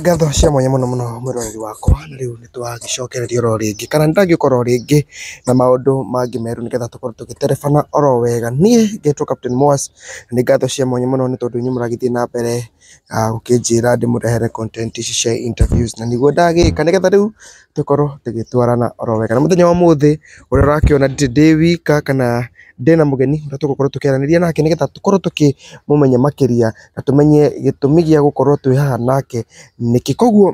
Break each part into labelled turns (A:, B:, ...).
A: Ngatho cia mwanya mũno mũno mwĩroreri wakwa, na rĩu nĩ tũragĩcokereria oro rĩngĩ, kana nĩ ndĩragĩũka oro rĩngĩ na maũndũ mangĩ merũ nĩgetha tũkorwo tũgĩterebana oro wega. Niĩ ngetwo Captain Moas, na nĩ ngatho cia mwanya mũno nĩ tondũ inyuĩ mũragĩthiĩ na mbere gũkĩnjĩra ndĩmũrehere content ici cia interviews na nĩguo ndagĩka nĩgetha rĩu tũkorwo tũgĩtwarana oro wega. Na mũthenya wa ũmũthĩ ũrĩa ũrakĩona ndirĩ ndĩ wika kana ndĩna mũgeni ũrĩa tũgũkorwo tũkĩaranĩria nake nĩgetha tũkorwo tũkĩmũmenya makĩria. na tũmenye gĩtũmi gĩa gũkorwo twĩ haha nake nĩkĩ. Koguo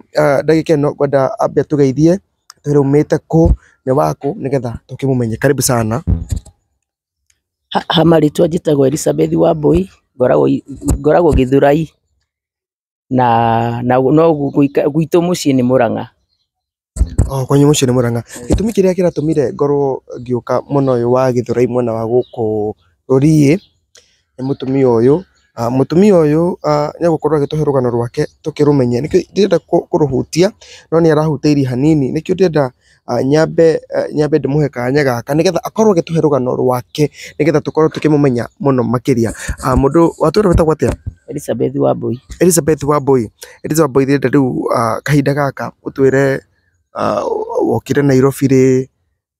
A: ndagĩka ĩno ngwenda ambe atũgeithie atwĩre aumĩte kũ, nĩ wa kũ nĩgetha tũkĩmũmenye. Karibu sana. Ha
B: marĩtwa njĩtagwo Elisabeth Wambũi, ngoragwo Gĩthurai na gwitũ mũciĩ nĩ Mũrang'a. O
A: kwanyu mũciĩ nĩ Mũrang'a. Gĩtũmi kĩrĩa kĩratũmire ngorwo ngĩũka mwena ũyũ wa Gĩthurai mwena wa gũkũ Rũriĩ, nĩ mũtumia ũyũ. Mũtumia ũyũ nĩ egũkorwo agĩtũhe rũgano rwake tũkĩrũmenye. Nĩkĩo ndirenda kũrũhutia, no nĩ arahutĩirie hanini. Nĩkĩo ndĩrenda nyambe nyambe ndĩmũhe kanya gaka nĩgetha akorwo agĩtũhe rũgano rwake nĩgetha tũkorwo tũkĩmũmenya mũno makĩria. Mũndũ, watũra wĩtagwo atĩa? Elizabeth Wambũi.
B: Elizabeth Wambũi,
A: Elizabeth Wambũi ndĩrenda rĩu ah, kahinda gaka ũtwĩre ah, wokire Nairobi rĩ,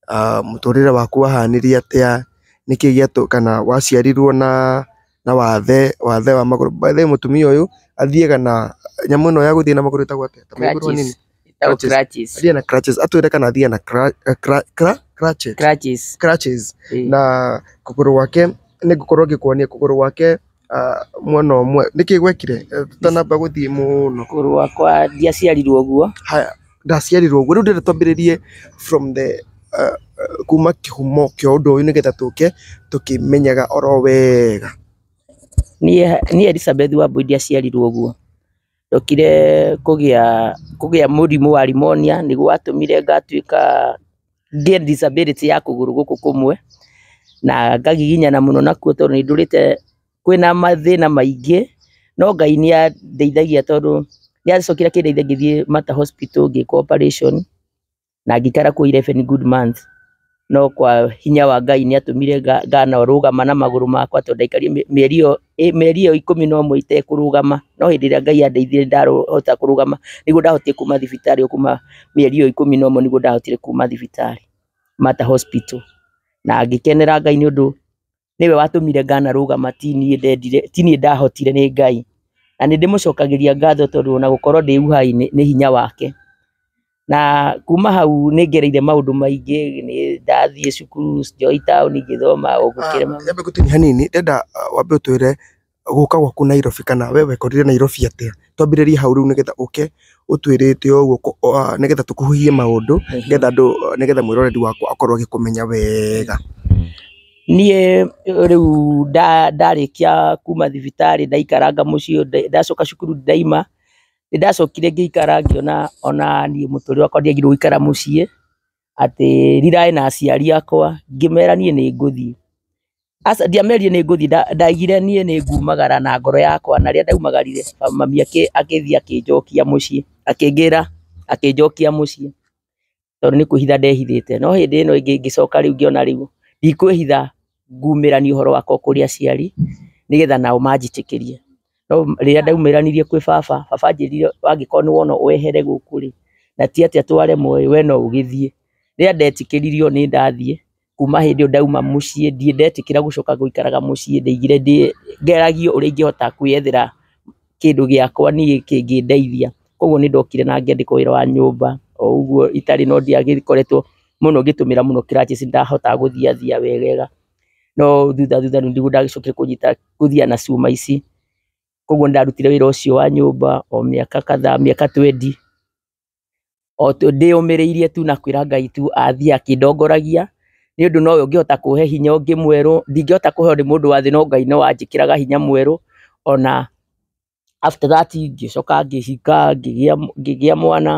A: ah, mũtũrĩre waku wahanirie atĩa, nĩkĩ gĩatũ kana waciarirwo na na wathe, wathe wa magũrũ. By the way mũtumia ũyũ athiaga na nyamũ ĩno ya gũthiĩ na magũrũ ĩtagwo atĩa? Ta mĩgũrũ nini? Crutches. Itakuwa Crutches.
B: crutches. Hadi ana crutches.
A: Hata yule kana hadi ana cra- eh, cra- cra- crutches. Crutches. Crutches. Eh. Na kuguru wake ni gukorwo ngikuonia kuguru wake ah, mwana umwe niki gwekire Eh, tutanamba guthii muno Kũgũrũ wakwa
B: ndiaciarirwo ũguo. haya ndaciarirwo
A: guo riu ndire twambiririe from the uh, uh, kuma kihumo kia undu uyu nigetha tuke tukimenyaga oro wega
B: Niĩ niĩ Elizabeth Wambui ndiaciarirwo ũguo. Ndokire kũgĩa kũgĩa mũrimũ wa rimonia, nĩguo watũmire ngatuĩka ngĩe disability ya kũgũrũ gũkũ kũmwe, na ngagiginyana mũno nakuo tondũ nĩ ndũrĩte, kwĩna mathĩna maingĩ, no Ngai nĩ andeithagia tondũ nĩ acokire akĩndeithia ngĩthiĩ Mater Hospital ngĩkwo operation. na ngĩikara kuo 11 good months no kwa hinya wa Ngai nĩ atũmire nga- nganorũgama na magũrũ makwa tondũ ndaikarire mĩ- mĩeri ĩyo ĩ- mĩeri ĩyo ikũmi na ũmwe itekũrũgama no hĩndĩ ĩrĩa Ngai andeithirie ndahota kũrũgama nĩguo ndahotire kuma thibitarĩ o kuma mĩeri ĩyo ikũmi na ũmwe nĩguo ndahotire kuma thibitarĩ Mata Hospital na ngĩkenera Ngai nĩ ũndũ nĩwe watũmire nganarũgama ti niĩ ndendire, ti niĩ ndahotire nĩ Ngai. Na nĩndĩmũcokagĩria ngatho tondũ ona gũkorwo ndĩ uhai nĩ hinya wake. Na kuma hau nĩngereire maũndũ maingĩ, nĩndathiĩ cukuru, Joy Town ngĩthoma o gũkĩrĩ maũndũ. Nyambe ngũtinie hanini,
A: ndĩrenda wambe ũtwĩre gũka gwaku Nairobi kana we wekorire Nairobi atĩa? Twambĩrĩrie hau rĩu nĩgetha ũke ũtwĩrĩte ũguo nĩgetha tũkuhĩhie maũndũ nĩgetha andũ nĩgetha mwĩroreri wakwa akorwo agĩkũmenya wega. Niĩ
B: rĩu ndarĩkia kuma thibitarĩ ndaikaranga mũciĩ, ndacoka cukuru ndaima, nĩndacokire ngĩikara ngĩona ona niĩ mũtũrĩre wakwa ndiagĩrĩirwo gũikara mũciĩ. atĩ riraĩ na aciari akwa ngĩmera niĩ nĩ ngũthiĩ. Aca ndiamerire nĩ ngũthiĩ ndaigire niĩ nĩ ngumagara na ngoro yakwa na rĩrĩa ndaumagarire mami agĩthiĩ akĩnjokia mũciĩ akĩngĩra akĩnjokia mũciĩ tondũ nĩ kwĩhitha ndehithĩte. No hĩndĩ ĩno ĩngĩ ngĩcoka rĩu ngĩona rĩu ndikwĩhitha ngumĩranie ũhoro wakwa kũrĩ aciari nĩgetha nao manjĩtĩkĩrie. No rĩrĩa ndaumĩranirie kwĩ baba, baba anjĩrire angĩkorwo nĩ wona wehere gũkũ rĩ, na ti atĩ twaremwo ĩ, we no ũgĩthiĩ. Rĩrĩa ndetĩkĩririo nĩ ndathiĩ, kuma hĩndĩ ĩyo ndauma mũciĩ ndirĩ ndetĩkĩra gũcoka gũikaraga mũciĩ, ndaigire ndĩ, ngeragio ũrĩa ingĩhota kwĩyethera. kĩndũ gĩakwa niĩ kĩngĩndeithia, koguo nĩ ndokire na ngĩandĩkwo wĩra wa nyũmba, o ũguo itarĩ no ndiagĩkoretwo mũno ngĩtũmĩra mũno crutches nĩ ndahotaga gũthiathia wegega, no thutha thutha nĩguo ndacokire kũnyita gũthiaga na cuma ici, koguo nĩ ndarutire wĩra ũcio wa nyũmba o mĩaka kadhaa mĩaka twendi. o tũ- ndĩyũmĩrĩirie tu na kwĩra Ngai tu athiĩ akĩndongoragia, nĩ ũndũ nowe ũngĩhota kũhe hinya ũngĩ mwerũ, ndingĩhota kũheo nĩ mũndũ wa thĩ no Ngai no wanjĩkĩraga hinya mwerũ, ona after that ngĩcoka ngĩhika, ngĩgĩa ngĩgĩa mwana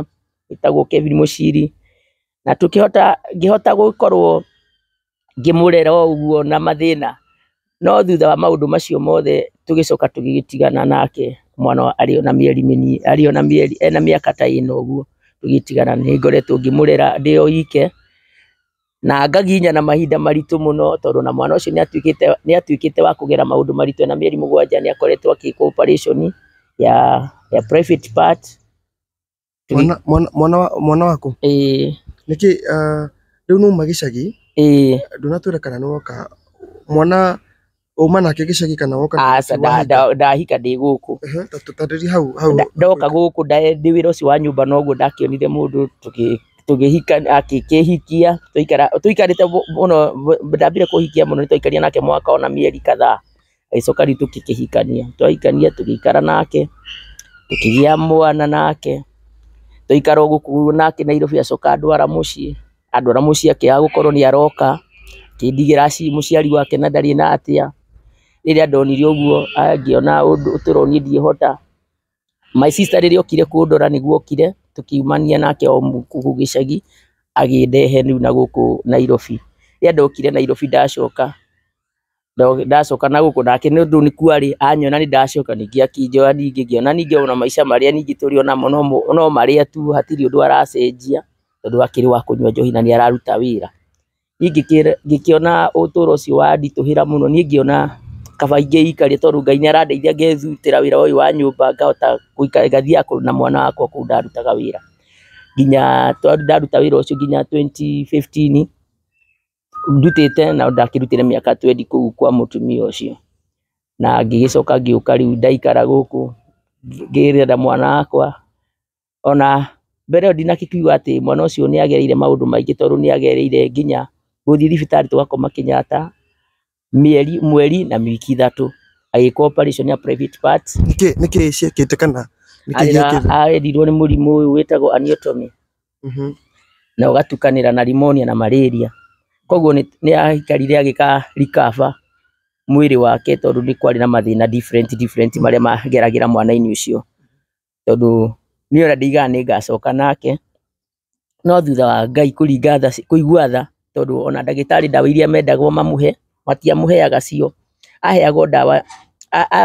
B: wĩtagwo Kevin Mũciri. na tũkĩhota, ngĩhota gũkorwo ngĩmũrera o ũguo na mathĩna, no thutha wa maũndũ macio mothe tũgĩcoka tũgĩgĩtigana nake mwana arĩ o na mĩeri mĩnini, arĩ o na mĩeri, ena mĩaka ta ĩna ũguo tũgĩtigana. Nĩ ngoretwo ngĩmũrera ndĩ o ike, na ngagiginyana mahinda maritũ mũno tondũ o na mwana ũcio nĩ atuĩkĩte, nĩ atuĩkĩte wa kũgera maũndũ maritũ e na mĩeri mũgwanja, nĩ akoretwo agĩkwo operation ya private part. Mwana- mwana-
A: mwana wa- mwana waku ĩĩ nĩkĩ ah, rĩu numa gĩcagi ĩĩ ndũnatwĩra kana nĩ woka mwana uma nake gĩcagi kana woka na aca gĩcagi nda- wahika? nda- ndahika
B: ndĩ gũkũ Ehe, ta tũtarĩrie hau
A: hau Nda- ndoka gũkũ nda-
B: ndĩ wĩra ũcio wa nyũmba noguo ndakĩonire mũndũ tũkĩ- tũkĩhika akĩkĩhikia tũikara- tũikarĩte mũ- mũno ndambire kũhikia mũno nĩ twaikaria nake mwaka ona mĩeri kadhaa Agĩcoka rĩu tũkĩhikania, twahikania tũgĩikara nake, tũkĩgĩa mwana nake, tũgĩikara o gũkũ nake Nairobi acoka andwara mũciĩ, andwara mũciĩ akĩaga gũkorwo nĩ aroka, akĩndigĩra mũciari wake na ndarĩ na tĩa, rĩrĩa ndonire ũguo ngĩona ũndũ tũro niĩ ndingĩhota, my sister rĩrĩa okire kũndora nĩguo okire, tũkiumania nake o gũkũ gĩcagi, agĩndehe rĩu na gũkũ Nairobi, rĩrĩa ndokire Nairobi ndacoka, Ndo- ndacoka na gũkũ nake nĩ ũndũ nĩ kwarĩ anyona nĩ ndacoka ningĩ akĩnjoya ningĩ ngĩona ningĩ ona maica marĩa ningĩ tũrĩ onamo no mo- no marĩa tu hatirĩ ũndũ aracenjia tondũ akĩrĩ wa kũnyua njohi na nĩ araruta wĩra. Niĩ ngĩkĩra ngĩkĩona ũtũro ũcio wanditũhĩra mũno niĩ ngĩona kaba ingĩikaria tondũ Ngai nĩ arandeithia ngethutĩra wĩra ũyũ wa nyũmba ngahota gũikara ngathiaga kũ- na mwana wakwa kũu ndarutaga wĩra nginya twa- ndaruta wĩra ũcio nginya twenty fifteen ndutĩte na ndakĩrutĩre mĩaka twendi kũu kwa mũtumia ũcio, na ngĩgĩcoka ngĩũka rĩu ndaikara gũkũ ngĩrera mwana wakwa, ona mbere ĩyo ndinakĩigua atĩ mwana ũcio nĩ agereire maũndũ maingĩ tondũ nĩ agereire nginya gũthiĩ thibitarĩ tũgakoma Kenyatta, mĩeri, mweri na wiki ithatũ agĩka operation ya private part. Nĩkĩ nĩkĩ ciekĩte
A: kana nĩkĩ Arĩra- gĩekĩte?
B: Arerirwo nĩ mũrimũ ũyũ wĩtagwo aniotomy Mhm. na ũgatukanĩra na pneumonia na malaria. Koguo nĩ nĩ aikarire agĩka recover mwĩrĩ wake tondũ nĩ kwarĩ na mathĩna different different marĩa mageragĩra mwana-inĩ ũcio. tondũ niĩ ona ndigaga nĩngacoka nake, no thutha wa Ngai kũringa tha kũigua tha, tondũ ona ndagĩtarĩ ndawa iria mendagwo mamũhe, matiamũheaga cio, aheagwo ndawa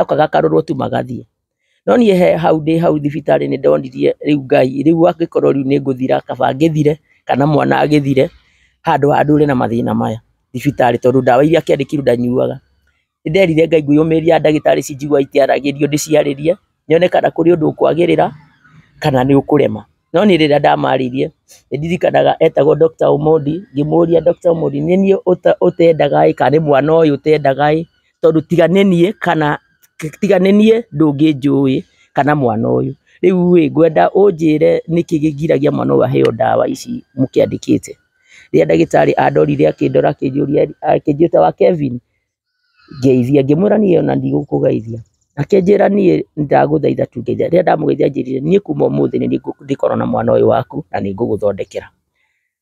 B: okaga akarorwo tu magathiĩ. No niĩ he hau ndĩ hau thibitarĩ nĩndonirie rĩu Ngai, rĩu angĩkorwo rĩu nĩngũthira kaba ngĩthire, kana mwana agĩthire, handũ ha ndũũre na mathĩna maya thibitarĩ tondũ ndawa iria akĩandĩkĩirwo ndanyuaga. nĩ nderire Ngai ngĩyũmĩria ndagĩtarĩ ici njiguaga ikĩaragĩrio ndĩciarĩrie, nyone kana kũrĩ ũndũ ũkwagĩrĩra kana nĩ ũkũrema. No niĩ rĩrĩa ndamaririe, nĩ ndirikanaga etagwo Doctor Omondi, ngĩmũria Doctor Omondi, nĩ niĩ ũtendaga ĩ kana nĩ mwana ũyũ ũtendaga ĩ, tondũ tiga nĩ niĩ kana, tiga nĩ niĩ ndũngĩnjũĩ kana mwana ũyũ. Rĩu ĩ ngwenda ũnjĩre nĩkĩ kĩgiragia mwana ũyũ aheo ndawa ici mũkĩandĩkĩte. Rĩrĩa ndagĩtarĩ andorire akĩndora akĩnjũria ĩ, akĩnjĩta wa Kevin? Ngĩaria, ngĩmwĩra niĩ ona ndigũkũgeithia, akĩnjĩra niĩ ndagũthaitha tu ngeithia, rĩrĩa ndamũgeithia anjĩrire niĩ kuma ũmũthĩ nĩngũkorwo na mwana ũyũ waku na nĩngũgũthondekera.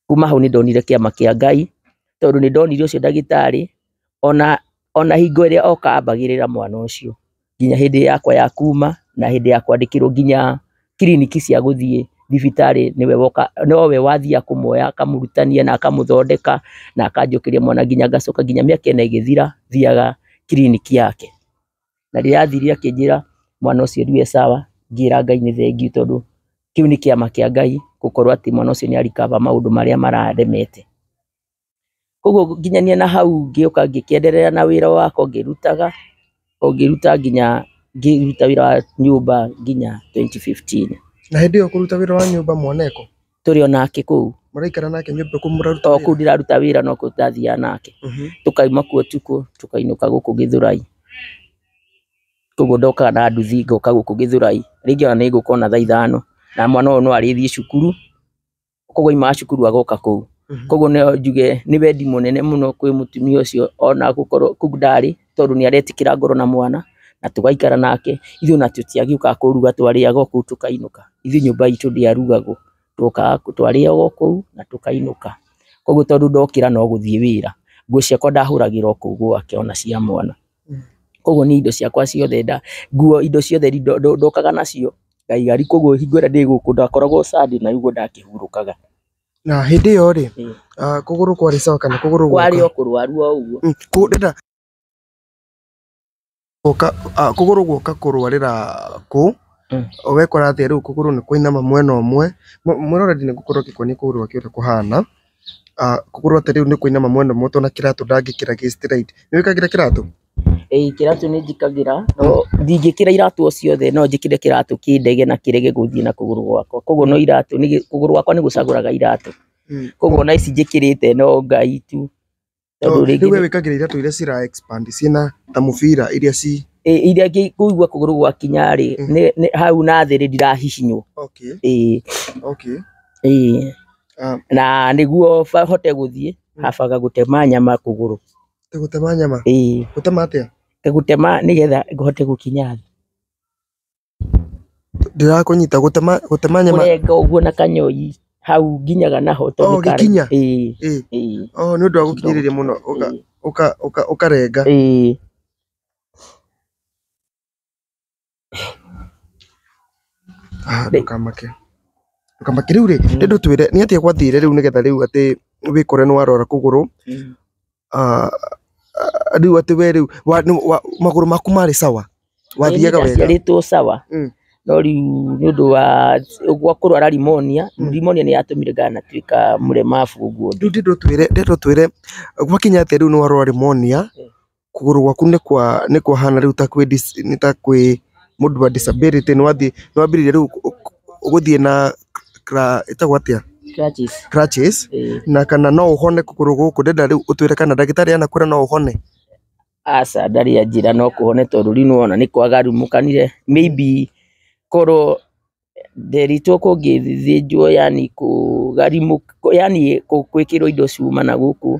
B: Kuma hau nĩndonire kĩama kĩa Ngai, tondũ nĩndonire ũcio ndagĩtarĩ ona hingo ĩrĩa oka ambagĩrĩra mwana ũcio. nginya hĩndĩ yakwa ya kuma na hĩndĩ ya kwandĩkĩrwo nginya kiriniki cia gũthiĩ thibitarĩ nĩwe woka, nowe wathiaga kũmuoya akamũrutania na akamũthondeka na akanjũkĩria mwana nginya ngacoka nginya mĩaka ĩna ĩgĩthira thiaga kiriniki yake. Na rĩrĩa athire akĩnjĩra mwana ũcio ndirĩ sawa ngĩra Ngai nĩ thengiũ tondũ kĩu nĩ kĩama kĩa Ngai gũkorwo atĩ mwana ũcio nĩ a recover maũndũ marĩa mararemete. Koguo nginyanĩa na hau ngĩũka ngĩkĩenderea na wĩra wakwa ngĩrutaga, o ngĩruta nginya ngĩruta wĩra wa nyũmba nginya twenty fifteen. Na hĩndĩ ĩyo ũkĩruta
A: wĩra wa nyũmba mwana e kũ? Tũrĩ o nake
B: kũu. Mũraikara nake nyũmba
A: kũu mũraruta wĩra? O kũu ndĩraruta wĩra
B: nokuo ndathiaga nake. Tũkauma kuo ũtukũ tũkainũka gũkũ Gĩthũrai. Koguo ndokaga na nduthi ngoka gũkũ Gĩthũrai. Rĩngĩ ona nĩ ngũka ona thaa ithano, na mwana ũyũ no arĩthiĩ cukuru. koguo aimaga cukuru agoka kũu Mhm. koguo no njuge nĩ wendi mũnene mũno kwĩ mũtumia ũcio ona gũkorwo kũu ndarĩ tondũ nĩ aretĩkĩra ngoro na mwana na tũgaikara nake ithuĩ ona tũtiagĩũkaga kũruga twarĩaga o kũu tũkainũka ithuĩ nyũmba itũ ndĩarugagwo twokaga kũ- twarĩa o kũu na tũkainũka koguo tondũ ndokĩra no gũthiĩ wĩra nguo ciakwa ndahũragĩra o kũu gwake ona cia mwana Koguo niĩ indo ciakwa ciothe, nguo indo ciothe ndokaga nacio ngaiga riko ũguo hingo ĩrĩa ndĩ gũkũ ndakoragwo Sunday na rĩu ũguo ndakĩhurũkaga. Na hĩndĩ
A: ĩyo rĩ, kũgũrũ kwarĩ sawa kana kũgũrũ gũka? Kwarĩ o kũrwaru o
B: ũguo.
A: Kũgũrũ gũka kũrwarĩra kũ, wekora atĩa rĩu kũgũrũ nĩ kũinama mwena ũmwe, mwena ũrĩa niĩ ngũkorwo ngĩkuonia kũgũrũ ũrĩa kũhana. Korwo atĩ rĩu nĩ kũinama mwĩnauma mũtwe na kĩratũ ndangĩkĩra gĩ straight. Nĩ wĩkagĩra kĩratũ?
B: Ĩĩ kĩratũ nĩ njĩkagĩra, no ndingĩkĩra iratũ o ciothe, no njĩkĩre kĩratũ kĩndege na kĩrege gũthiĩ na kũgũrũ gwakwa. Koguo no iratũ, kũgũrũ gwakwa nĩ gũcagũraga iratũ. Koguo ona ici njĩkĩrĩte no ngai tu. Tondũ rĩngĩ- Rĩu we
A: wĩkagĩra iratũ iria cira expand ciĩna ta mũbira iria ci Ĩ, iria ngĩ-
B: kũigua kũgũrũ gwakinya rĩ Mm. nĩ- nĩ- hau na thĩ rĩ ndirahihinywo okay Ĩ, okay ĩ. Ah. na nĩguo ba- hote gũthiĩ Mm. habaga gũtema nyama kũgũrũ Ĩ, gũtema nyama
A: Ĩ, gũtema atĩa gũtema nĩgetha
B: hote gũkinya thĩ
A: Ndĩrakũnyita, gũtema gũtema nyama. Kũrenga ũguo na kanyoi
B: hau nginyaga naho tondũ nĩ karaihu. Oh gĩkinya? Ĩĩ. Ĩĩ.
A: Oh nĩ ũndũ wa gũkinyĩrĩria mũno ũka ũka ũka ũkarenga. Ĩĩ. Haha ndũkamake. Ndũkamake. Rĩu rĩ, rĩu twĩre nĩ atĩa gwathire rĩu nĩgetha rĩu atĩ wĩkore nĩ warwara kũgũrũ? Rĩu atĩ we rĩu magũrũ maku marĩ sawa? Wathiaga wega? Ĩĩ nĩndaciarĩtwo sawa,
B: no rĩu nĩũndũ wa gwa kũrwara rimonia, rimonia nĩ yatũmire nganatuĩka mũremabu ũguo. Rĩu ndĩrenda ũtwĩre, ndĩrenda ũtwĩre
A: gwakinya atĩa rĩu nĩwarwara rimonia, kũgũrũ gwaku nĩkwahana rĩu ta kwĩ, nĩ ta kwĩ... mũndũ wa disability nĩ wambĩrĩirie rĩu gũthiĩ na ĩtagwo atĩa? crutches na kana no ũhone kũgũrũ gũkũ, ndĩrenda rĩu ũtwĩre kana ndagĩtarĩ anakwĩra no ũhone? Aca
B: ndarĩ anjĩra no kũhone tondũ rĩu nĩ wona nĩ kwaga rumũkanire, maybe korwo Nderitwo kũngĩthĩnjwo yaani kũgarimũkwo yaani gwĩkĩrwo indo cuma na gũkũ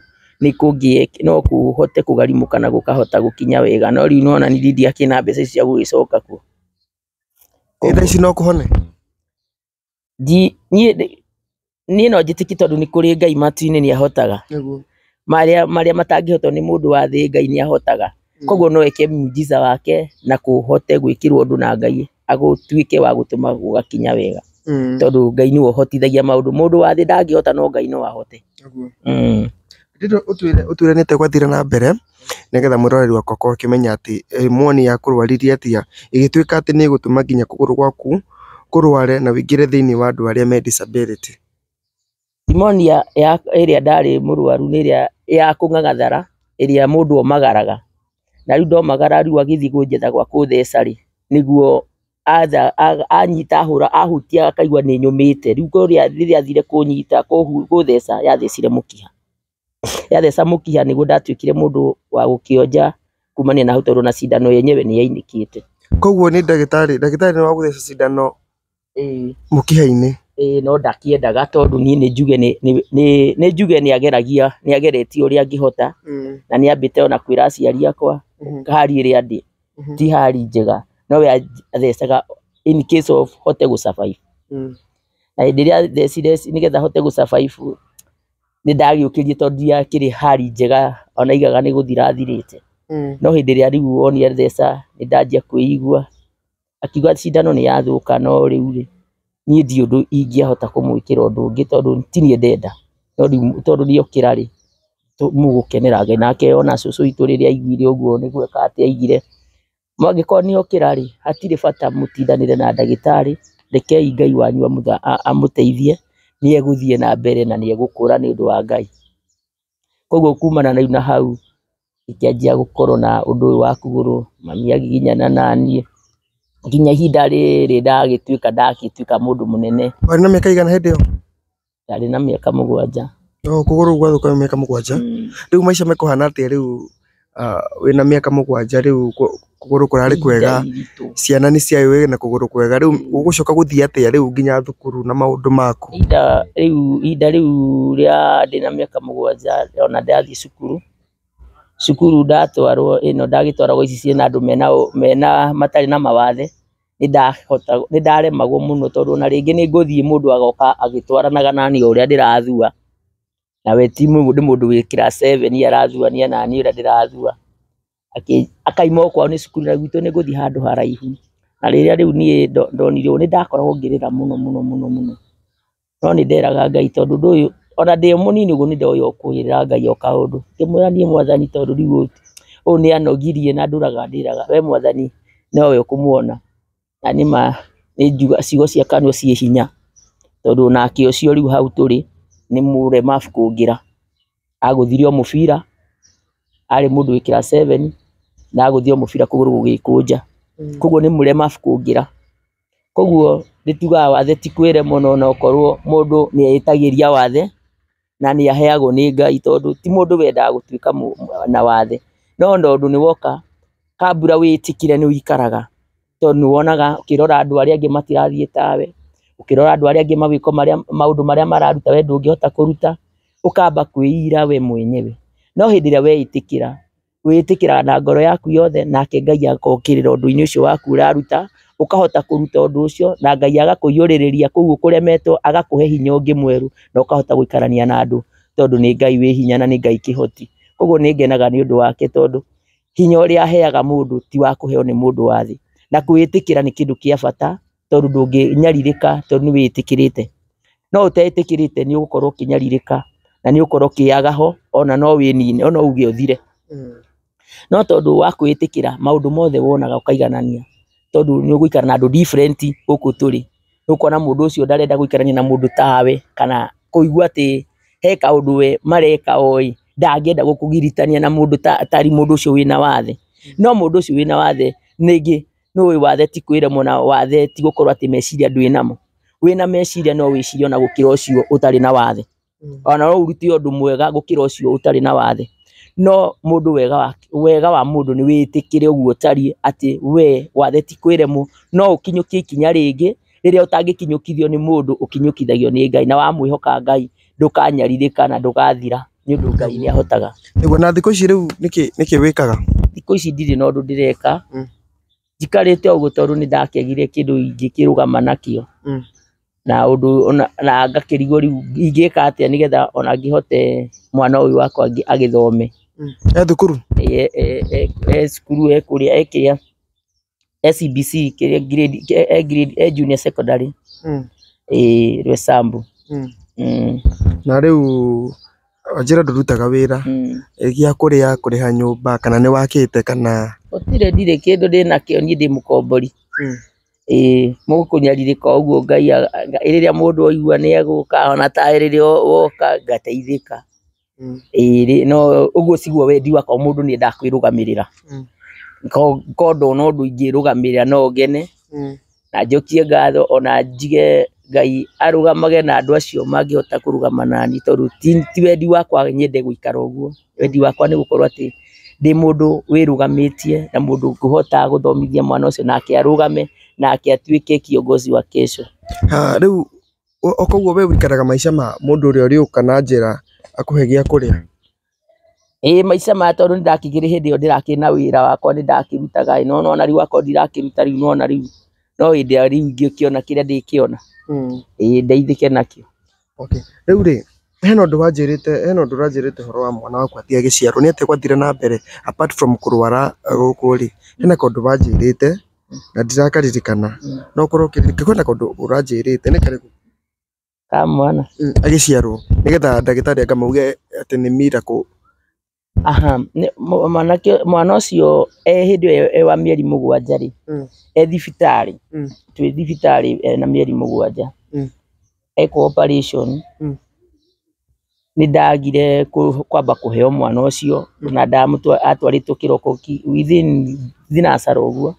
B: nĩ kũngĩe no kũhote kũgarimũka na gũkahota gũkinya wega, no rĩu nĩwona nithiĩ ndiakĩrĩ na mbeca ici cia gũgĩcoka kuo.
A: Ĩ thaa ici no kũhone? Niĩ ndĩ
B: niĩ no njĩtĩkie tondũ nĩ kũrĩ Ngai matu-inĩ nĩ ahotaga Nĩguo. marĩa marĩa matangĩhotwo nĩ mũndũ wa thĩ Ngai nĩ ahotaga koguo no eke mujiza wake na kũhote gwĩkĩrwo ũndũ na Ngai agũtuĩke wa gũtũma gũgakinya wega Mm. tondũ Ngai nĩwe ũhotithagia maũndũ mũndũ wa thĩ ndangĩhota no Ngai no ahote Nĩguo. mm. Ndĩrenda ũtwĩre
A: ũtwĩre nĩ atĩa gwathire na mbere nĩgetha mwĩroreri waku akorwo akĩmenya atĩ moni yakũrwaririe atĩa, ĩgĩtuĩka atĩ nĩ ĩgũtũma nginya kũgũrũ gwaku kũrware na wũingĩre thĩinĩ wa andũ arĩa me disability.
B: Pneumonia ĩrĩa ndarĩ mũrwaru nĩ ĩrĩa ya kũng'ang'athara ĩrĩa mũndũ omagaraga, na rĩu ndomagara rĩu agĩthiĩ kũnjetha gwa kũtheca rĩ, nĩguo anyita ahũra ahutia akaigua nĩ nyũmĩte, rĩu kũrĩa rĩrĩa athire kũnyita kũtheca yathecire mũkiha. yatheca mũkiha nĩguo ndatuĩkire mũndũ wa gũkĩonja kumania na hau tondũ ona cindano yenyewe nĩ yainĩkĩte. Koguo nĩ ndagĩtarĩ, ndagĩtarĩ
A: nĩ wagũtheca cindano mũkiha-inĩ? Ĩĩ no
B: ndakĩendaga tondũ niĩ nĩ njuge nĩ, nĩ njuge nĩ ageragia, nĩ ageretie ũrĩa angĩhota na nĩ ambĩte ona kwĩra aciari akwa hali ĩrĩa ndĩ ti hali njega. Nowe athecaga in case of hote gũ survive. Na hĩndĩ ĩrĩa athecire nĩgetha hote gũ survive. nĩ ndagĩũkĩrie tondũ ndiakĩrĩ hali njega ona aigaga nĩ gũthira athirĩte Mm. no hĩndĩ ĩrĩa rĩu wonire theca nĩ ndanjia kwĩigua akiuga cindano nĩ yathũka no rĩu rĩ niĩ ndi ũndũ ingĩahota kũmwĩkĩra ũndũ ũngĩ tondũ ti niĩ ndenda no rĩu tondũ ndiokĩra rĩ tũ- mũgũkenera Ngai nake ona cũcũ witũ rĩrĩa aiguire ũguo nĩ gwĩka atĩ aigire Angĩkorwo nĩ okĩra rĩ, hatirĩ bata mũtindanĩre na ndagĩtarĩ, rekei Ngai wanyu amũteithie, nĩ egũthiĩ na mbere na nĩ egũkũra nĩ ũndũ wa Ngai. Koguo kumana rĩu na hau, ngĩkĩanjia gũkorwo na ũndũ ũyũ wa kũgũrũ, mami agiginyana na niĩ, nginya ihinda rĩrĩ ndagĩtuĩka ndatuĩka mũndũ mũnene. Warĩ na mĩaka ĩigana hĩndĩ
A: ĩyo? ndarĩ na
B: mĩaka mũgwanja. No kũgũrũ gũkũ gwathũka
A: wĩna mĩaka mũgwanja? Rĩu maica mekũhana atĩa rĩu wĩna mĩaka mũgwanja rĩu kũgũrũ kũrarĩ kwega, ciana nĩ ciaĩ wĩna kũgũrũ kwega, rĩu ũgũcoka gũthiĩ atĩa rĩu nginya thukuru na maũndũ maku? Ihinda rĩu,
B: ihinda rĩu rĩa ndĩna mĩaka mũgwanja ona ndathiĩ cukuru, cukuru ndatwarwo ĩno ndagĩtwaragwo ici ciĩna andũ mena, mena, matarĩ na mawathe. nĩndaremagwo mũno tondũ ona rĩngĩ nĩngũthiĩ mũndũ agoka agĩtwaranaga naniĩ o ũrĩa ndĩrathua, na we ti mũndũ wĩ class seven arathũania naniĩ ũrĩa ndĩrathua, akauma o kwao nĩ cukuru na gwitũ nĩngũthiĩ handũ haraihu, na rĩrĩa rĩu niĩ ndonire ũũ nĩndakoragwo ngĩrĩra mũno mũno mũno. No nĩ nderaga Ngai tondũ ũndũ ũyũ, ona ndĩ o mũnini ũguo nĩ ndoĩ o kũĩrĩra Ngai o kaũndũ. Ngĩmwĩra niĩ Mwathani tondũ rĩu ũyũ, ũyũ nĩ anogirie na ndũraga ndĩraga, we Mwathani nowe ũkũmuona. Na nĩ ma, nĩ njua, ciugo cia kanua ciĩ hinya, tondũ onake ũcio rĩu hau tũrĩ, nĩ mũremabu kũngĩra. Agũthire o mũbira, arĩ mũndũ wĩ class seven, na agũthire o mũbira kũgũrũ gũgĩkũnja. Kũguo nĩ mũremabu kũngĩra. Koguo nĩtugaga wathe ti kwĩre mũno ona okorwo mũndũ nĩetagĩria wathe na nĩaheagwo nĩ Ngai tondũ ti mũndũ wendaga gũtuĩka na wathe, no tondũ nĩwoka kambũra wĩtĩkĩre nĩwĩikaraga tondũ nĩwonaga ũkĩrora andũ arĩa angĩ matirathiĩ tawe, ũkĩrora andũ arĩa angĩ magĩka maũndũ marĩa mararuta we ndũngĩhota kũruta, ũkamba kwĩira we mwenyewe, no hĩndĩ ĩrĩa weĩtĩkĩra. wĩtĩkĩra na ngoro yaku yothe nake Ngai agokĩrĩra ũndũ-inĩ ũcio waku ũraruta, ũkahota kũruta ũndũ ũcio na Ngai agakũiyũrĩrĩria kũu ũkũremetwo agakũhe hinya ũngĩ mwerũ na ũkahota gũikarania na andũ tondũ nĩ Ngai wĩ hinya na nĩ Ngai kĩhoti. Koguo nĩ ngenaga nĩ ũndũ wake tondũ hinya ũrĩa aheaga mũndũ ti wa kũheo nĩ mũndũ wa thĩ. Na gwĩtĩkĩra nĩ kĩndũ gĩa bata tondũ ndũngĩnyarirĩka tondũ nĩ wĩtĩkĩrĩte. No ũtetĩkĩrĩte nĩ ũgũkorwo ũkĩnyarirĩka na nĩ ũgũkorwo ũkĩaga ho ona no wĩnine ona uge ũthire. No tondũ wa kwĩĩtĩkĩra maũndũ mothe wonaga ũkaiganania tondũ nĩ ũgũikara na andũ different gũkũ tũrĩ. Nĩ ũkuona mũndũ ũcio ndarenda gũikarania na mũndũ tawe kana kũigua atĩ he kaũndũ we mareka oĩ ndangĩenda gũkũgiritania na mũndũ ũcio wĩna wathe. No mũndũ ũcio wĩna wathe rĩngĩ Nĩũĩ wathe ti kwĩremwo na wathe ti gũkorwo atĩ meciria ndwĩ namo. Wĩna meciria no wĩcirie ona gũkĩra ũcio ũtarĩ na wathe. Ona no ũrute ũndũ mwega gũkĩra ũcio ũtarĩ na wathe. No mũndũ wega wa, wega wa mũndũ nĩ wĩtĩkĩre ũguo ũtariĩ atĩ wee wathe ti kwĩremwo, no ũkinyũkie ikinya rĩngĩ rĩrĩa ũtangĩkinyũkithio nĩ mũndũ ũkinyũkithagio nĩ Ngai. Na wamwĩhoka Ngai ndũkanyarirĩka na ndũgathira. nĩ ũndũ Ngai nĩ ahotaga. Nĩguo na thikũ ici rĩu
A: nĩkĩ nĩkĩ wĩkaga? Thikũ ici ndirĩ na
B: ũndũ ndĩreka, Mm. njikarĩte ũguo tondũ nĩ ndakĩagire kĩndũ ingĩkĩrũgama nakĩo. Mm. Na ũndũ ona na ngakĩrigwo rĩu ingĩka atĩa nĩgetha ona ngĩhote mwana ũyũ wakwa ngĩ- agĩthome. E thukuru?
A: E, e,
B: e, e cukuru e kũrĩa e kĩrĩa SBC kĩrĩa grade eh, eh, grade eh, junior secondary Mm. eh, Rwesambu Mm. mm,
A: na rĩu wanjĩra ndũrutaga wĩra mm. eh, gĩa kũrĩa kũrĩha nyũmba kana nĩ wakĩte kana gũtirĩ ndirĩ kĩndũ
B: ndĩ nakĩo niĩ ndĩ mũkombori Mm. ĩĩ mũgũkũnyarirĩka ũguo ngai a- nga- rĩrĩa mũndũ aigua nĩ egũka ona ta rĩrĩa o- woka ngateithĩka Mm. ĩrĩ no ũguo ciguo wendi wakwa mũndũ nĩ endaga kwĩrũgamĩrĩra Mm. Ko- ko ndona ũndũ ingĩrũgamĩrĩra no ngene Mm. na njokie ngatho ona njige ngai arũgamage na andũ acio mangĩhota kũrũgama nani tondũ ti, ti wendi wakwa nyende gũikara ũguo wendi wakwa nĩ gũkorwo atĩ ndĩ mũndũ wĩrũgamĩtie na mũndũ ngũhota gũthomithia mwana ũcio nake arũgame nake atuĩke kiongozi wa kesho Ah, rĩu
A: O koguo we ũikaraga maica ma mũndũ ũrĩa ũrĩũka na njĩra akũhe gĩa kũrĩa? Ĩĩ
B: maica maya tondũ nĩ ndakĩgĩire hĩndĩ ĩyo ndĩrakĩrĩ na wĩra wakwa nĩ ndakĩrutaga ĩ, nĩ wona ona rĩu akorwo ndirakĩruta rĩu nĩ wona rĩu no hĩndĩ ĩrĩa rĩu ingĩkĩona kĩrĩa ndĩkĩona ĩ ndeithĩke nakĩo. Okay. Rĩu
A: rĩ, hena ũndũ wanjĩrĩte, hena ũndũ ũranjĩrĩte ũhoro wa mwana waku atĩ agĩciarwo, nĩ atĩa gwathire na mbere apart from kũrwara gũkũ rĩ, hena kaũndũ wanjĩrĩte? Na ndirakaririkana. Mm. No ũkorwo ũkĩririkana. Kwĩna kaũndũ ũranjĩrĩte. Nĩ karĩkũ? Ka
B: mwana. Mm, Agĩciarwo.
A: Nĩgetha ndagĩtarĩ akamauge atĩ nĩ miracle. Aha, nĩ- mũ-
B: mwanake mwana ũcio e hĩndĩ ĩyo e wa mĩeri mũgwanja rĩ Mm. e thibitarĩ Mm. twĩ thibitarĩ e na mĩeri mũgwanja Mm. ekwo operation Mm. nĩndagire kwamba kũheo mwana ũcio na atwarĩtwo kĩroko within thinacara ũguo,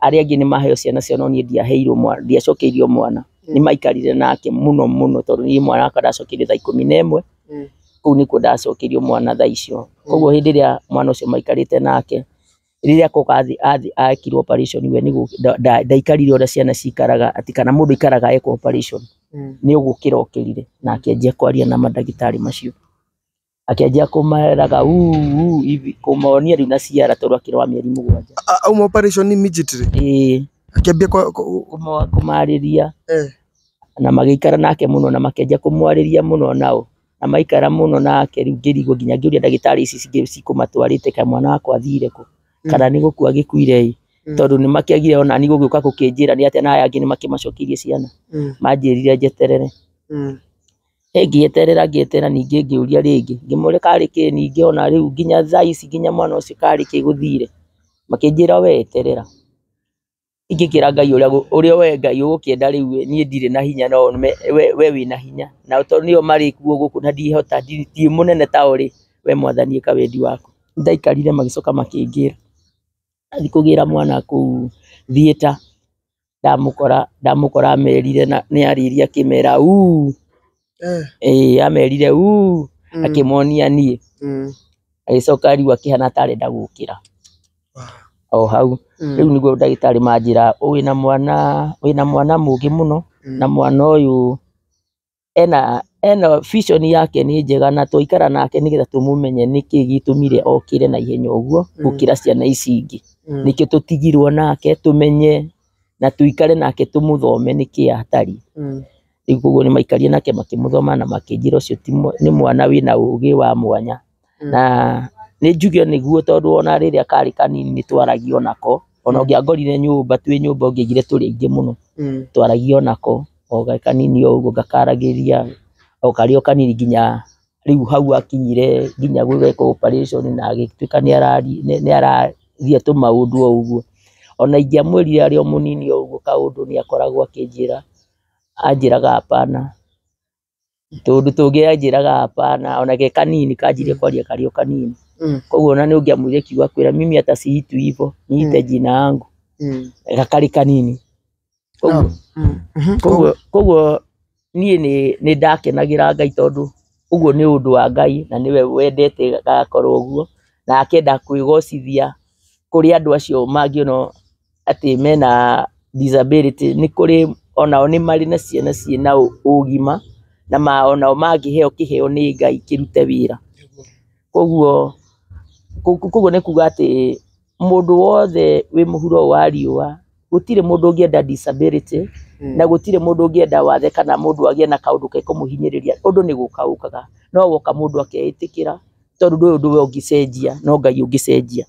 B: arĩa angĩ nĩmaheo ciana ciao no niĩ ndiaheirwo mwana, ndiacokeirio mwana, nĩmaikarire nake mũno mũno tondũ niĩ mwana wakwa ndacokeire thaa ikũmi na ĩmwe, kũu nĩkuo ndacokeirio mwana thaa icio, koguo hĩndĩ ĩrĩa mwana ũcio maikarĩte nake, rĩrĩa koka athi athi ekirwo operation we nĩ gũ- nda- nda- ndaikarire ũrĩa ciana cikaraga atĩ kana mũndũ aikaraga ekwo operation nĩ ũgũkĩra okĩrire na akĩanjia kwaria na mandagĩtarĩ macio akĩanjia kũmeraga "Uu, uu," hivi, kũmonia rĩu na ciara tondũ akĩrĩ wa mĩeri mũgwanja A- auma operation
A: immediately Ĩĩ, akĩambia kwa- kwa- kũmo-
B: kũmarĩria Eh. na magĩikara nake mũno na makĩanjia kũmwarĩria mũno nao na maikara mũno nake, rĩu ngĩrigwo nginya ngĩũria ndagĩtarĩ ici cingĩ cikũmatwarĩte kaĩ mwana wakwa athire kũ, kana nĩ gũkua agĩkuire ĩ, Mm. tondũ nĩ makĩagire onani gũgĩũka gũkĩnjĩra nĩ atĩ ona aya angĩ nĩ makĩmacokeirie ciana, Mm. manjĩrire njeterere, Mm. ĩ ngĩeterera ngĩeterera ningĩ ngĩũria rĩngĩ, ngĩmũria karĩ kĩ ningĩ ona rĩu nginya thaa ici nginya mwana ũcio karĩ kĩ gũthire, makĩnjĩra we eterera. Ingĩkĩra Ngai ũrĩa we Ngai ũgũkĩenda rĩu niĩ ndirĩ na hinya no we wĩna hinya, na tondũ nĩo marĩ kuo gũkũ na ndihota, ndirĩ mũnene ta o rĩ, we Mwathani ĩka wendi waku. Nĩ ndaikarire magĩcoka makĩnjĩra thiĩ kũgĩra mwana kũu theater, ndamũkora, ndamũkora amerire, nĩ arĩrie akĩmera uuu. Eh, ĩĩ amerire uu mm, akĩmonia niĩ mm, agĩcoka ariu akĩhana ta arenda gũkĩra ah, o hau mm, rĩu nĩguo ndagĩtarĩ manjĩra wĩna mwana wĩna mwana mũngĩ mũno mm, na mwana ũyũ ena ena vision yake nĩ njega na twaikara nake nĩgetha tũmũmenye nĩkĩ gĩtũmire okĩre na ihenya ũguo Mm. gũkĩra ciana ici ingĩ mm, nĩkĩo tũtigirwo nake tũmenye na tũikare nake tũmũthome nĩkĩ atari mm, Rĩu koguo nĩ maikarire nake makĩmũthoma na makĩnjĩra ũcio ti mwa- nĩ mwana wĩna ũũgĩ wa mwanya. Mm. Na nĩ njuge nĩguo tondũ ona rĩrĩa karĩ kanini nĩ twaragia o nako. Ona ũngĩangorire nyũmba twĩ nyũmba ũngĩaigire tũrĩ aingĩ mũno Mm. twaragia o nako o ge kanini o ũguo ngakaragĩria o karĩ o kanini nginya rĩu hau akinyire nginya gwĩka operation na agĩtuĩka nĩ arari- nĩ- nĩ araria tũmaũndũ o ũguo. Ona ingĩamwĩrire arĩ o mũnini o ũguo kaũndũ nĩ akoragwo akĩnjĩra. anjĩraga hapana, tũũndũ tũngĩ anjĩraga hapana, ona ge kanini kanjire kwaria karĩ o kanini, koguo ona nĩĩ ũngĩamwĩria kiugo akwĩre mimi hata si itwi hivo, niite jina yangu na karĩ kanini, koguo koguo niĩ nĩ nĩndakenagĩra Ngai tondũ ũguo nĩ ũndũ wa Ngai na nĩwe wendete gagakorwo ũguo, na akenda kwĩgocithia kũrĩ andũ acio mangĩ ona o. atĩ mena disability nĩ kũrĩ onao nĩ marĩ na ciana ciĩ na ũgima, na onao mangĩheo kĩheo nĩ Ngai kĩrute wĩra. Koguo, koguo nĩ kuga atĩ mũndũ wothe wĩ mũhuro ũyũ wa riũa, gũtirĩ mũndũ ũngĩenda disability, na gũtirĩ mũndũ ũngĩenda wathe kana mũndũ agĩe na kaũndũ gekũmũhinyĩrĩria, ũndũ nĩ gũka ũkaga, no woka mũndũ akeĩtĩkĩra. tondũ ndũĩ ũndũ we ũngĩcenjia no ngai ũngĩcenjia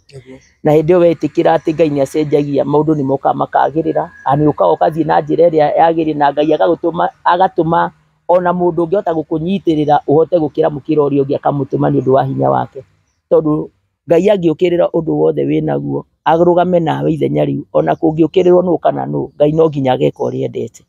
B: na hĩndĩ ĩyo wetĩkĩra atĩ ngai nĩ acenjagia maũndũ nĩ mokaga makagĩrĩra na nĩ ũkaga ũgathiĩ na njĩra ĩrĩa yagĩrĩire na ngai agagũtũma agatũma ona mũndũ ũngĩhota gũkũnyitĩrĩra ũhote gũkĩra mũkĩra ũrĩa ũngĩ akamũtũma nĩ ũndũ wa hinya wake tondũ ngai angĩũkĩrĩra ũndũ wothe wĩnaguo. arũgame nawe ithenya rĩu ona kũngĩũkĩrĩrwo nũ kana nũ Ngai no nginya ageka ũrĩa endete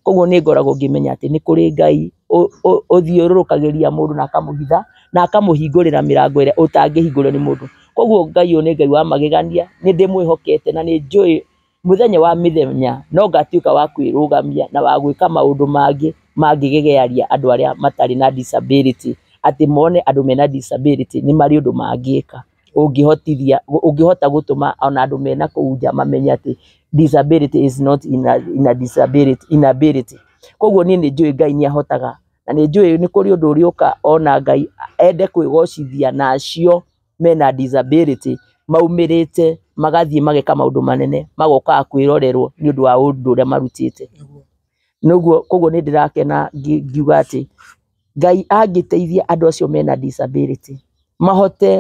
B: koguo nĩ ngoragwo ngĩmenya atĩ nĩ kũrĩ Ngai ũ- ũ- ũthiũrũrũkagĩria mũndũ na akamũhitha na akamũhingũrĩra mĩrango ĩrĩa ũtangĩhingũrĩrwo nĩ mũndũ koguo Ngai ũyũ nĩ Ngai wa magegania nĩ ndĩmwĩhokete na nĩ njũĩ mũthenya wa mĩthenya no ngatuĩka wa kwĩrũgamia na wa gwĩka maũndũ mangĩ mangĩgegearia andũ arĩa matarĩ na disability atĩ mone andũ mena disability nĩ marĩ ũndũ mangĩka. ũngĩhotithia, ũngĩhota gũtũma ona andũ me na kũu nja mamenye atĩ disability is not inability. Koguo niĩ nĩ njũĩ Ngai nĩ ahotaga, na nĩ njũĩ nĩ kũrĩ ũndũ ũrĩũka ona Ngai ende kwĩgocithia na acio me na disability maumĩrĩte magathiĩ mageka maũndũ manene magokaga kwĩrorerwo nĩ ũndũ wa ũndũ ũrĩa marutĩte. Koguo nĩ ndĩrakena ngiuga atĩ Ngai angĩteithia andũ acio mena disability mahote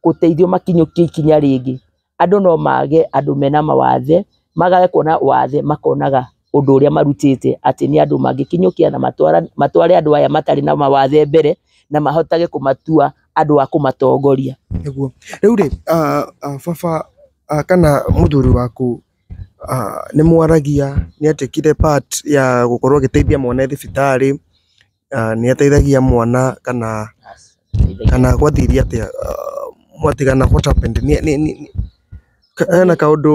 B: gũteithio makinyũkie ikinya rĩngĩ, andũ no mage andũ mena mawathe, magage kuona wathe makonaga ũndũ ũrĩa marutĩte atĩ nĩ andũ mangĩkinyũkia na matware andũ aya matarĩ na mawathe mbere, na mahotage kũmatua andũ a kũmatongoria. Nĩguo. Rĩu
A: rĩ, baba kana mũthuri waku Nĩ mwaragia, nĩ atuĩkire part ya gũkorwo agĩteithia mwana e thibitarĩ, nĩ ateithagia mwana kana, kana gwathiire atĩa, mwatigana what happened? Hena kaũndũ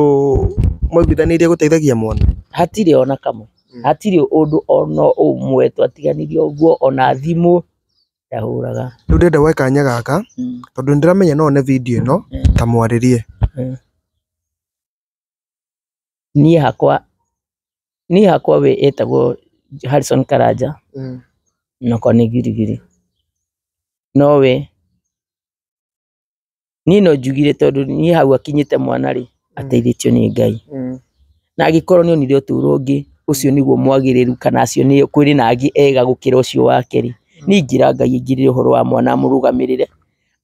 A: mwaiguithanĩirie gũteithagia mwana? Hatirĩ ona kamwe,
B: hatirĩ ũndũ ona ũmwe twatiganire ũguo, ona thimũ ndahũraga. Rĩu ndĩrenda woe kanya
A: gaka, tondũ nĩ ndĩramenya no one video ĩno, ta mwarĩrie.
B: Niĩ hakwa, niĩ hakwa we ĩtagwo Harrison Karanja, nakwa nĩ Girigiri. No we, niĩ no njugire tondũ niĩ hau akinyĩte mwana rĩ, ateithĩtio nĩ Ngai. Na angĩkorwo nĩ onire ũtũro ũngĩ, ũcio nĩguo mwagĩrĩru kana acio nĩ kũrĩ na angĩ ega gũkĩra ũcio wake rĩ, niĩ ingĩra Ngai aingĩrĩre ũhoro wa mwana amũrũgamĩrĩre.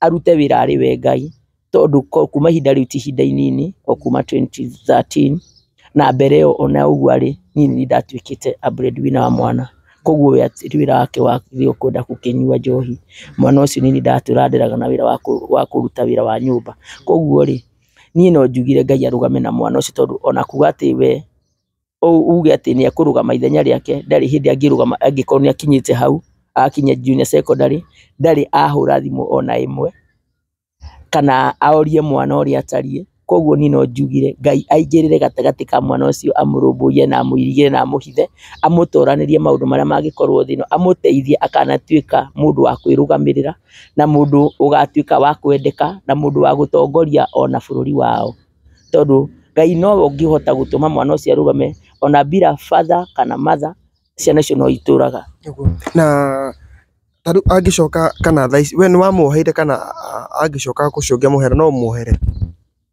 B: arute wĩra arĩ we Ngai, tondũ kuma ihinda rĩu ti ihinda inini, o kuma twenty thirteen na mbere ĩyo ona ũguo arĩ, niĩ nĩ niĩ ndatuĩkĩte a bread winner wa mwana, koguo we ti wĩra wake wa gũthiĩ kwenda gũkĩnyua njohi, mwana ũcio nĩ niĩ ndĩratũranĩraga na wĩra wa kũruta wĩra wa nyũmba, koguo rĩ, niĩ no njugire Ngai arũgame na mwana ũcio tondũ ona kuga atĩ we, uge atĩ nĩekũrũgama ithenya rĩake ndarĩ hĩndĩ angĩrũgama angĩkorwo nĩakinyĩte hau, akinya junior secondary ndarĩ ahũra thimũ ona ĩmwe, kana orie mwana ũrĩa atariĩ, koguo niĩ no njugire Ngai aingĩrĩre gatagatĩ ka mwana ũcio amũrũmbũyie na amũirigĩre na amũhithe, amũtoranĩrie maũndũ marĩa mangĩkorwo thĩ ĩno, amũteithie akanatuĩka mũndũ wa kwĩrũgamĩrĩra, na mũndũ ũgatuĩka wa kwendeka, na mũndũ wa gũtongoria ona bũrũri wao. tondũ Ngai nowe ũngĩhota gũtũma mwana ũcio arũgame, ona bila father kana mother ciana icio no itũraga. Na
A: ta rĩu angĩcoka kana thaa ici, we nĩ wamwoheire kana angĩcoka ũcio ũngĩamwohera no ũmwohere?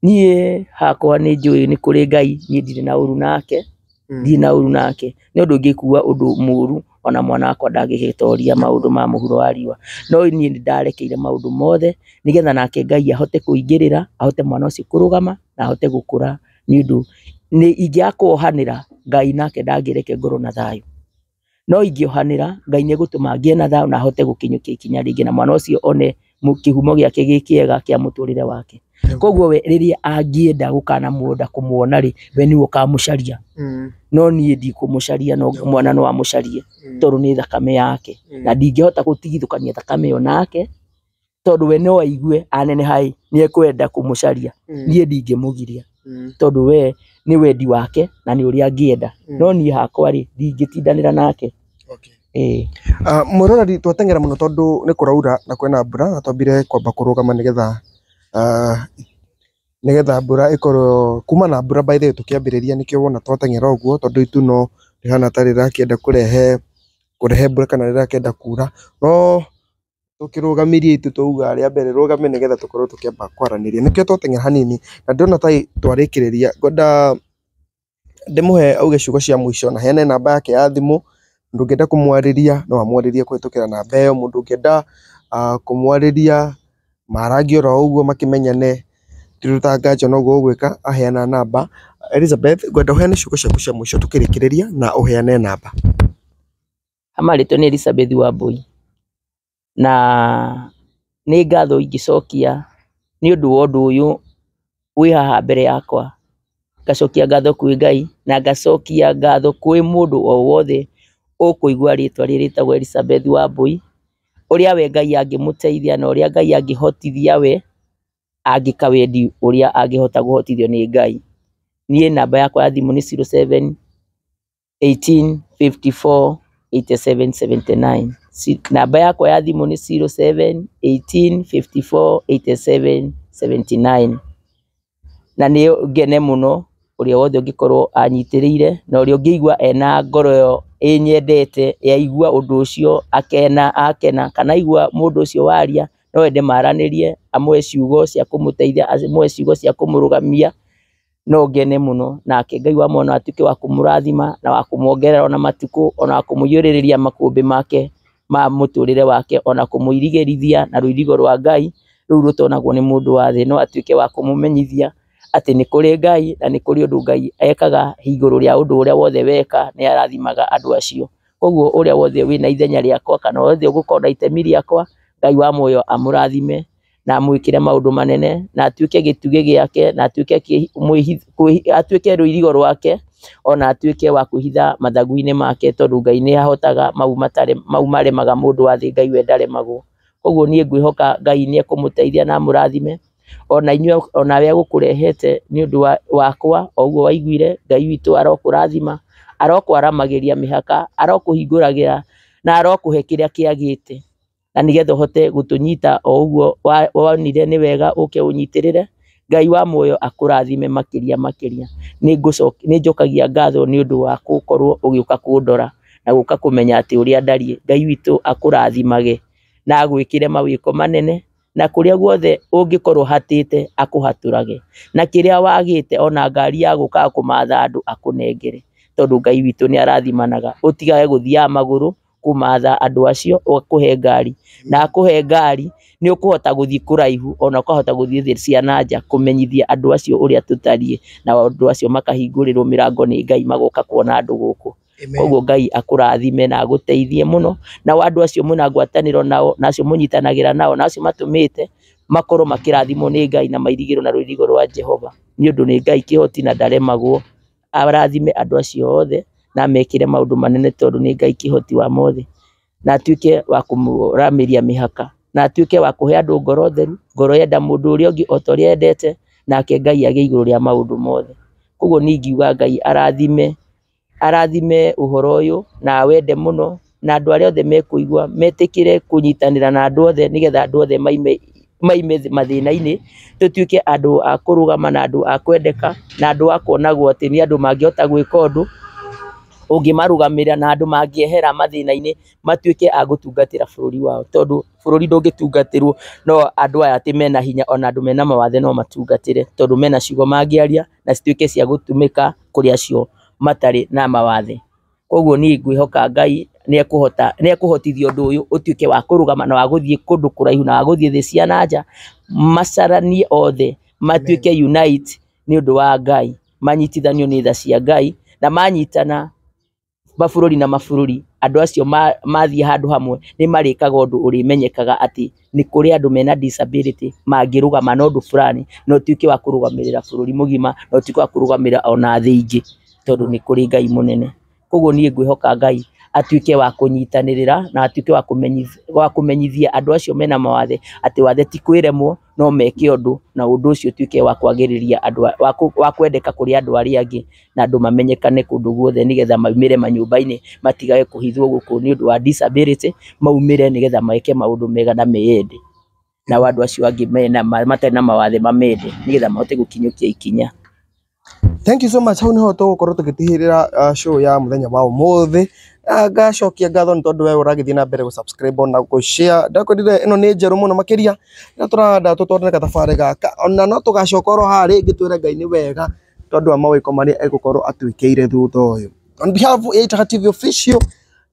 A: Niĩ
B: hakwa nĩ njũĩ nĩ kũrĩ Ngai, niĩ ndirĩ na ũru nake. Mm. thiĩ na ũru nake nĩ ũndũ ingĩkua ũndũ mũru ona mwana wakwa ndangĩgĩtoria maũndũ ma mũhuro wa riũa no niĩ nĩ ndarekeire maũndũ mothe nĩgetha nake ngai ahote kũingĩrĩra ahote mwana ũcio kũrũgama na ahote gũkũra nĩ ũndũ nĩ ingĩakuohanĩra ngai nake ndangĩreke ngorwo na thayũ No ingĩohanĩra, Ngai nĩ egũtũma ngĩe na thayũ na hote gũkinyũkia ikinya rĩngĩ na mwana ũcio one kĩhumo gĩake gĩ kĩega kĩa mũtũrĩre wake. Koguo we rĩrĩa angĩenda gũkana mũgũnda kũmuona rĩ, we nĩwe ũkamũcaria. No niĩ ndikũmũcaria no mwana no amũcarie tondũ nĩ thakame yake. Na ndingĩhota gũtigithũkania thakame ĩyo nake. tondũ we no aigue aneneha-ĩ nĩekwenda kũmũcaria Mm. niĩ ndingĩmũgiria Mm. tondũ we nĩ wendi wake na nĩ ũrĩa angĩenda Mm. no niĩ hakwa-rĩ ndingĩtindanĩra nake Okay. ĩĩ Ah,
A: Mũroreri twateng'era mũno tondũ nĩ kũraura na kwĩna mbura na twambire kwamba kũrũgama nĩgetha ah, nĩgetha mbura ĩkorwo kuma na mbura by the way tũkĩambĩrĩria nĩkĩo wona twateng'era ũguo tondũ itu no rĩhana ta rĩrakĩenda kũrehe kũrehe mbura kana rĩrakĩenda kuura no Tũkĩrũgamĩria ithuĩ twauga arĩa a mbere rũgame nĩ getha tũkorwo tũkĩamba kwaranĩria. Nĩkĩo twateng'era hanini na ndĩrona ta twarĩkĩrĩria. Ngwenda ndĩmũhe auge ciugo cia mũico na heane namba yake ya thimũ, mũndũ ũngĩenda kũmwarĩria no amwarĩrie kũhĩtũkĩra namba ĩyo, mũndũ ũngĩenda kũmwarĩria marangie oro ũguo makĩmenyane ndĩrĩ ta nganja no ũguo ũgwĩka aheana namba. Elizabeth ngwenda ũheane ciugo ciaku cia mũico tũkĩrĩkĩrĩria na ũheane namba.
B: marĩtwa nĩ Elizabeth Wambui, na nĩ ngatho ingĩcokia nĩ ũndũ wa ũndũ ũyũ wĩ haha mbere yakwa, ngacokia ngatho kwĩ Ngai, na ngacokia ngatho kwĩ mũndũ o wothe ũkũigwa rĩtwa rĩrĩ rĩtagwo Elizabeth Wambui, ũrĩa we Ngai angĩmũteithia na ũrĩa Ngai angĩhotithia we, angĩka wendi ũrĩa angĩhota kũhotithio nĩ Ngai. Niĩ namba yakwa ya thimũ nĩ zero seven 1854 8779 Si- namba yakwa ya thimũ nĩ 07 1854 8779 na nĩ ngene mũno ũrĩa wothe ũngĩkorwo anyitĩrĩire na ũrĩa ũngĩigua ena ngoro ĩyo ĩnyendete yaigua ũndũ ũcio akena akena kana aigua mũndũ ũcio waria no ende maranĩrie amũhe ciugo cia kũmũteithia amũhe ciugo cia kũmũrũgamia no ngene mũno, nake Ngai wa muoyo no atuĩke wa kũmũrathima na wa kũmuongerera ona matukũ, ona wa kũmũiyũrĩrĩria makũmbĩ make ma mũtũrĩre wake, ona kũmũirigĩrithia na rũirigo rwa Ngai rũu rũtonagwo nĩ mũndũ wa thĩ, no atuĩke wa kũmũmenyithia atĩ nĩ kũrĩ Ngai na nĩ kũrĩ ũndũ Ngai ekaga igũrũ rĩa ũndũ ũrĩa wothe weka, nĩ arathimaga andũ acio. Koguo ũrĩa wothe wĩna ithenya rĩakwa kana wothe ũgũkorwo na itemi rĩakwa, Ngai wa muoyo amũrathime. na amwĩkĩre maũndũ manene, na atuĩke gĩtugĩ gĩake, na atuĩke atuĩke rũirigo rwake, ona atuĩke wa kwĩhitha mathagu-inĩ make tondũ Ngai nĩ ahotaga mau matarĩ mau maremaga mũndũ wa thĩ Ngai we ndaremagwo. Ũguo niĩ ngwĩhoka Ngai nĩ ekũmũteithia na amũrathime, ona inyuĩ ona we egũkũrehete nĩ ũndũ wa wakwa o ũguo waiguire, Ngai witũ arokũrathima, arokwaramagĩria mĩhaka, arokũhingũragĩra na arokũhe kĩrĩa kĩagĩte. na nĩgetha ũhote gũtũnyita o ũguo wonire nĩ wega ũke ũnyitĩrĩre. Ngai wa muoyo akũrathime makĩria makĩria. Nĩ njokagia ngatho nĩ ũndũ wa gũkorwo ũgĩũka kũndora na gũka kũmenya atĩ ũrĩa ndariĩ. Ngai witũ akũrathimage na agwĩkĩre mawĩko manene, na kũrĩa guothe ũngĩkorwo ũhatĩte akũhatũrage, na kĩrĩa wagĩte ona ngari ya gũkaga kũmatha andũ akũnengere, tondũ Ngai witũ nĩ arathimaga. Ũtigage gũthiaga magũrũ kũmatha andũ acio akũhe ngari, na akũhe ngari nĩ ũkũhota gũthiĩ kũraihu ona ũkahota gũthiĩ thĩ cia na nja kũmenyithia andũ acio ũrĩa tũtariĩ, nao andũ acio makahingũrĩrwo mĩrango nĩ Ngai magoka kuona andũ gũkũ. Koguo Ngai akũrathime na agũteithie mũno, nao andũ acio mwĩna ngwatanĩro nao na acio mũnyitanagĩra nao na acio matũmĩte makorwo makĩrathimwo nĩ Ngai na mairigĩrwo na rũirigo rwa Jehova, nĩ ũndũ nĩ Ngai kĩhoti na ndaremagwo arathime andũ acio othe na amekĩre maũndũ manene tondũ nĩ Ngai kĩhoti wa mothe, na atuĩke wa kũmũramĩria mĩhaka, na atuĩke wa kũhe andũ ngoro theru, ngoro yenda mũndũ ũrĩa ũngĩ o ta ũrĩa endete, nake Ngai agĩe igũrũ rĩa maũndũ mothe. Koguo niĩ ingiuga Ngai arathime, arathime ũhoro ũyũ na awende mũno. na andũ arĩa othe mekũigua metĩkĩre kũnyitanĩra na andũ othe nĩgetha andũ othe maime maime mathĩna-inĩ, tũtuĩke andũ a kũrũgama na andũ a kwendeka, na andũ a kuonagwo atĩ nĩ andũ mangĩhota gwĩka ũndũ, ũngĩmarũgamĩrĩra na andũ mangĩehera mathĩna-inĩ matuĩke a gũtungatĩra bũrũri wao, tondũ bũrũri ndũngĩtungatĩrwo no andũ aya atĩ mena hinya ona andũ mena mawathe no matungatĩre, tondũ mena ciugo mangĩaria na cituĩke cia gũtũmĩka kũrĩ acio matarĩ na mawathe. Koguo niĩ ngwĩhoka Ngai nĩ ekũhota, nĩ ekũhotithia ũndũ ũyũ ũtuĩke wa kũrũgama na wa gũthiĩ kũndũ kũraihu na wa gũthiĩ thĩ cia na nja, macaranie othe matuĩke unite nĩ ũndũ wa Ngai, manyitithanio nĩ tha cia Ngai, na manyitana mabũrũri na mabũrũri, andũ acio mathiĩ handũ hamwe nĩ marĩkaga ũndũ ũrĩmenyekaga atĩ... nĩ kũrĩ andũ mena disability mangĩrũgama na ũndũ burani na ũtuĩke wa kũrũgamĩrĩra bũrũri mũgima na ũtuĩke wa kũrũgamĩrĩra ona thĩ ingĩ tondũ nĩ kũrĩ Ngai mũnene. Koguo niĩ ngwĩhoka Ngai atuĩke wa kũnyitanĩrĩra na atuĩke wa kũmenyithia andũ acio mena mawathe atĩ wathe ti kwĩremwo no meke ũndũ na ũndũ ũcio ũtuĩke wa kwagĩrĩria andũ, wa kwendeka kũrĩ andũ arĩa angĩ. na andũ mamenyekane kũndũ guothe nĩgetha maumĩre manyũmba-inĩ matigage kũhithwo gũkũ nĩ ũndũ wa disability, maumĩre nĩgetha meke maũndũ mega na meyende, nao andũ acio angĩ mena matarĩ na mawathe mamende nĩgetha mahote gũkinyũkia ikinya. Thank
A: you so much, hau nĩho tũgũkorwo tũgĩtigĩrĩra show ya mũthenya wa ũmũthĩ, ngacokia ngatho nĩ tondũ we ũragĩthiĩ na mbere gũ subscribe ona gũ share, ndakwĩrire ĩno nĩ njerũ mũno makĩria, nĩtũrenda tũtwarane gathabarĩ gaka, ona no tũgacoka oro haha rĩngĩ twĩre Ngai nĩ wega. tondũ wa mawĩko marĩa egũkorwo atwĩkĩire thutha ũyũ. On behalf ya Itaha TV official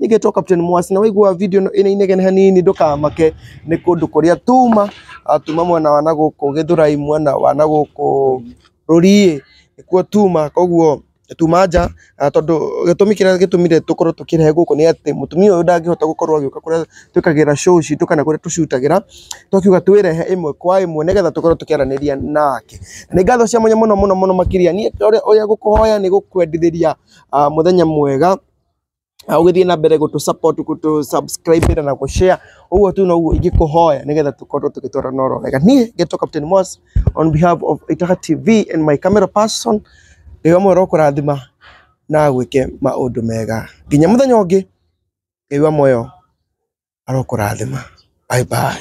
A: nĩngetwo Captain Mwasi na waigua video ĩno ĩna inegene hanini ndũkamake nĩ kũndũ kũrĩa tuma ah, tuma mwena wa nagũkũ Gĩthũrai mwena wa nagũkũ Rũriĩ nĩkuo tuma koguo tuma nja ah, tondũ gĩtũmi kĩrĩa gĩtũmire tũkorwo tũkĩrehe gũkũ nĩ atĩ mũtumia ũyũ ndangĩhota gũkorwo agĩũka kũrĩa twĩkagĩra show citũ kana kũrĩa tũcutagĩra twakiuga twĩrehe ĩmwe kwa ĩmwe nĩgetha tũkorwo tũkĩaranĩria nake nĩ ngatho cia mwanya mũno mũno mũno makĩria niĩ ũrĩa ũrĩa gũkũhoya nĩ gũkwendithĩria ah, mũthenya mwega Ah, ũgĩthiĩ na mbere gũtũ support gũtũ subscribe na gũ share ũguo tu noguo ingĩkũhoya nĩgetha tũkorwo tũgĩtwarana oro wega niĩ ngetwo Captain Moss on behalf of Itaha TV and my camera person nĩ we mwero kũrathima na gwĩke maũndũ mega nginya mũthenya ũngĩ nĩ we moyo arokũrathima bye bye